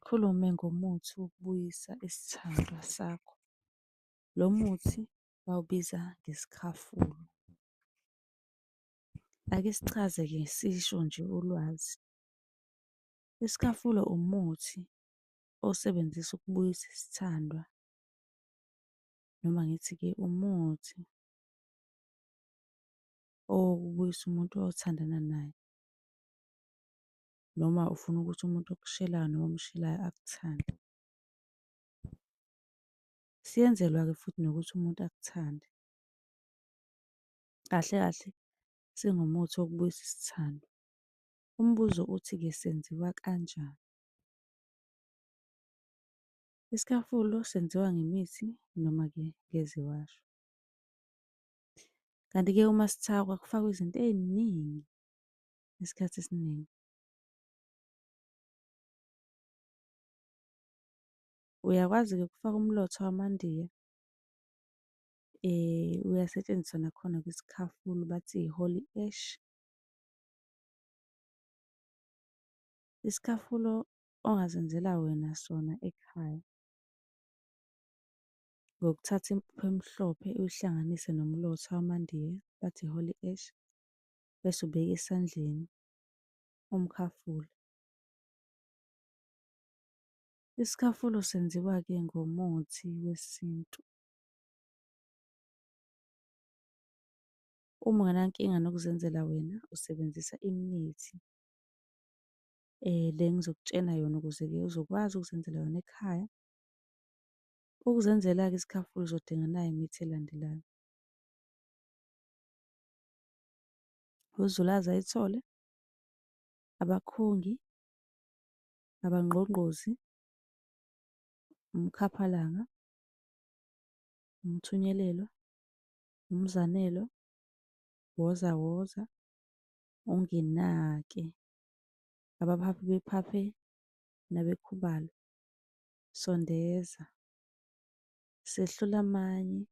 Sikhulume ngomuthi wokubuyisa isithandwa sakho. Lo muthi bawubiza ngesikhafula. Ake sichaze-ke sisho nje ulwazi. Isikhafula umuthi osebenzisa ukubuyisa isithandwa noma ngithi-ke umuthi owokubuyisa umuntu othandana naye. noma ufuna ukuthi umuntu okushelayo noma omshelayo akuthande. Siyenzelwa-ke futhi nokuthi umuntu akuthande. Kahle kahle singumuthi wokubuyisa isithando. Umbuzo uthi-ke senziwa kanjani? Isikhafulo senziwa ngemithi noma-ke ngeziwasho. Kanti-ke uma sithakwa kufakwa izinto ey'ningi isikhathi esiningi. Uyakwazi-ke ukufaka umlotha wamandiya, uyasetshenziswa nakhona kwisikhafulo bathi i-holly ash. Isikhafulo ongazenzela wena sona ekhaya, ngokuthatha impuphu emhlophe uyihlanganise nomlotha wamandiya bathi i-holly ash, bese ubeka esandleni umkhafula. Isikhafulo senziwa-ke ngomuthi wesintu. Uma ungenankinga nokuzenzela wena, usebenzisa imithi le engizokutshena yona ukuze-ke uzokwazi ukuzenzela yona ekhaya. Ukuzenzela-ke isikhafulo uzodinga nayi imithi elandelayo. uZulu aze ayithole, abakhongi, abangqongqozi, umkhaphalanga, umthunyelelwa, umzanelwa, woza woza, unginake, abaphaphi bephaphe nabekhubalo, sondeza, sehlula amanye,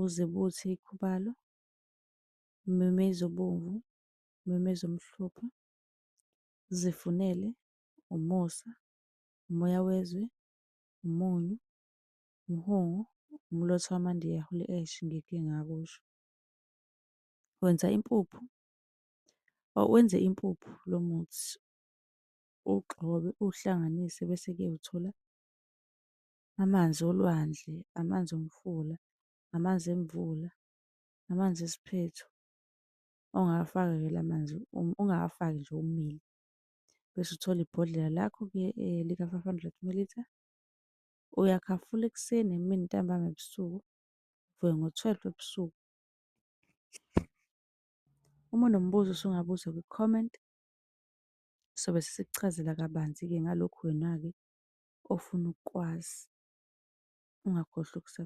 uze buthi ikhubalo, umemeze obomvu, umemeze omhlophe, uzifunele umusa, umoya wezwe, umunyu, umhungu, umlotha wamandiya holy ash ngike ngakusho. Wenza impuphu, wenze impuphu lo muthi uwugxobe uwuhlanganise bese-ke uthola amanzi olwandle, amanzi omfula, amanzi emvula, Amanzi esiphethu ongawafaka-ke la manzi ungawafaki nje omile. Bese uthola ibhodlela lakho-ke lika-five hundred mililitha, uyakhafula ekuseni, emini, ntambama, ebusuku, uvuke ngo-twelve ebusuku. Uma unombuzo usungabuza kwi-comment, sobe sesikuchazela kabanzi-ke ngalokhu wena-ke ofuna ukukwazi. Ungakhohlwa .